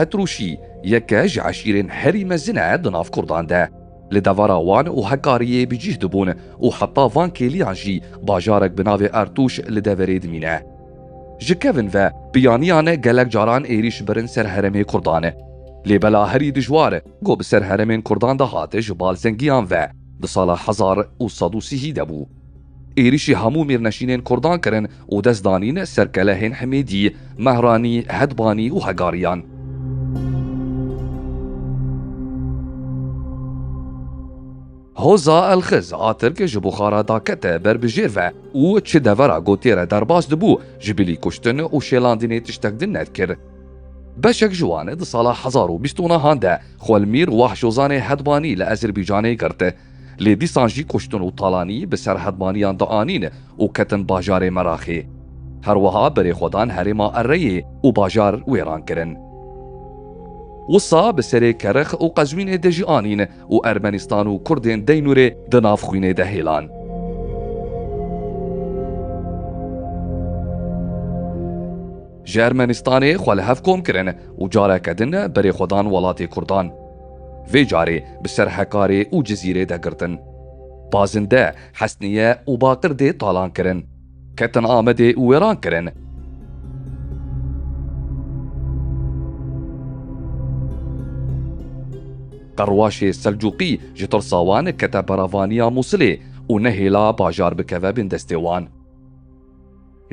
Etrûşî yeke ji eşîrên herî mezin e di nav Kurdan de. Li devera wan û Hekariyê bi cîh dibûn û heta van kêliyan jî bajarek bi navê Ertûş li deverê dimîne. Ji kevin ve biyaniyan gelek caran êrîş birin ser heremê Kurdan. Lê bela herî dijwar ku bi ser heremên Kurdan de hat ji balzengiyan ve di sala hezar û sed û sihî de bû. Êrîşî hemû mêrnişînên Kurdan kirin û dest danîn ser kelehên Himêdî, Mehranî, Hedbanî û Hegariyan. Hoza Elxiz a Tirk ji Buxara dakete ber bi jêr ve û çi devera gotê re derbas dibû ji bilî kuştin û şêlandinê tiştek din nedikir. Beşek ji wan di sala hezar û bîst û nehan de Xwelmîr Wahşozanê Hedbanî li Ezerbicanê girt. Lê dîsan jî kuştin û talanî bi ser hedmaniyan dianîn û ketin bajarê Meraxê. Her wiha berê xwe dan herêma Ereyê û bajar wêran kirin. Wisa bi serê Kerix û Qezwînê de jî anîn û Ermenistan û Kurdên Deynûrê di nav xwînê de hêlan. Ji Ermenistanê xwe li hev kom kirin û careke din berê xwe dan welatê Kurdan. Vê carê bi ser Hekarê û Cizîrê de girtin. Pazinde, Hesnîye û Baqir dê talan kirin. Ketin Amedê û wêran kirin. Qerwaşê Selcuqî ji tirsa wan kete beravaniya Mûsilê û nehêla bajar bikeve bin destê wan.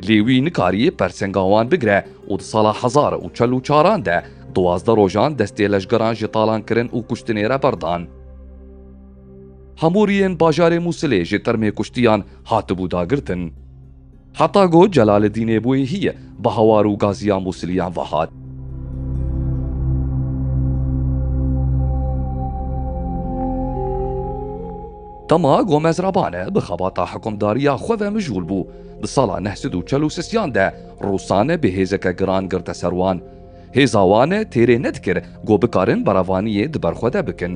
Lê wî nikariye persenga wan bigire û di sala hezar û çel û çaran de duwazdeh rojan destê leşgeran ji talankirin û kuştinê re berdan. Hemûriyên bajarê Mûsilê ji termê kuştiyan hatibû dagirtin. Heta ku Celaleddînê bûye hî bi hawar û gaziya Mûsiliyan ve hat. Dema Gomez Rabane bi xebata hikûmdariya xwe ve mijûl bû, Di sala neh sed û çel û sisiyan de Rûsane bi hêzeke giran girte ser wan. Hêza wan têrê nedikir ku bikarin berevaniyê di ber xwe de bikin.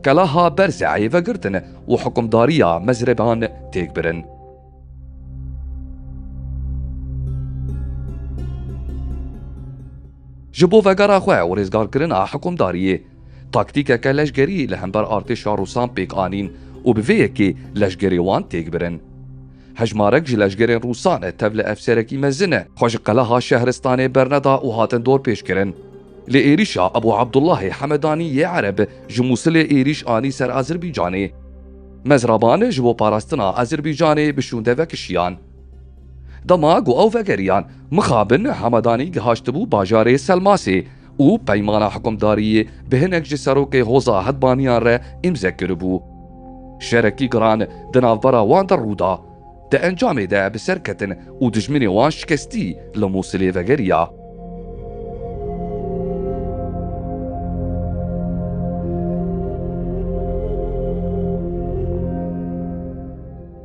Kelaha Berzeyê vegirtin û hikimdariya Mezreban têk birin. Ji bo vegera xwe û rêzgarkirina hikimdariyê, taktîkeke leşgerî li hember artêşa Rûsan pêk anîn û bi vê yekê leşgerê wan têk birin. Hejmarek ji leşgerên Rûsan e tev li efserekî mezin e xwe ji qeleha Şehristanê berneda û hatin dorpêçkirin. Li êrîşa Ebû Abdullahê Hemedanî yê Ereb ji Mûsilê êrîş anî ser Azirbaycanê. Mezraban ji bo parastina Azirbaycanê bi şûnde vekişiyan. Dema ku ew vegeriyan mixabin Hemedanî gihaştibû bajarê Selmasê. û peymana hikumdariyê bi hinek ji serokê Hoza Hedbaniyan re îmze kiribû. Şerekî giran di navbera wan de rûda. Di encamê de bi ser ketin û dijminê wan şikestî li Mûsilê vegeriya.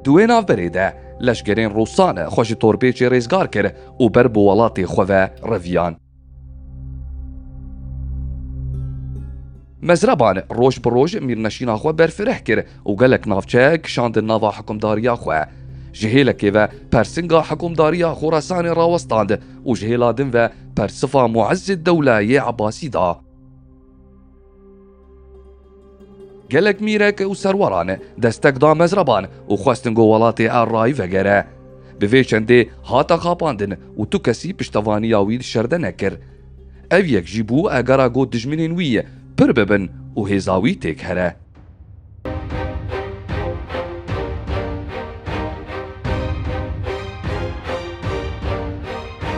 Di wê navberê de leşkerên Rûsan xwe ji Torbêçê rêzgar kir û ber bi welatê xwe ve reviyan. Mezreban roj bi roj mîrneşîna xwe berfireh kir û gelek navçe kişandin nava hikumdariya xwe. Ji hêlekê ve persinga hikumdariya Xorasanê rawestand û ji hêla din ve persifa Muezzîddewle yê Ebasî da. Gelek mîrek û serweran destek da mezreban û xwestin ku welatê errayî vegere. Bi vê çendê hate xapandin û tu kesî piştevaniya wî di şerde nekir. Ev yek jî bû egera ku dijminên wî pir bibin û hêza wî têk here.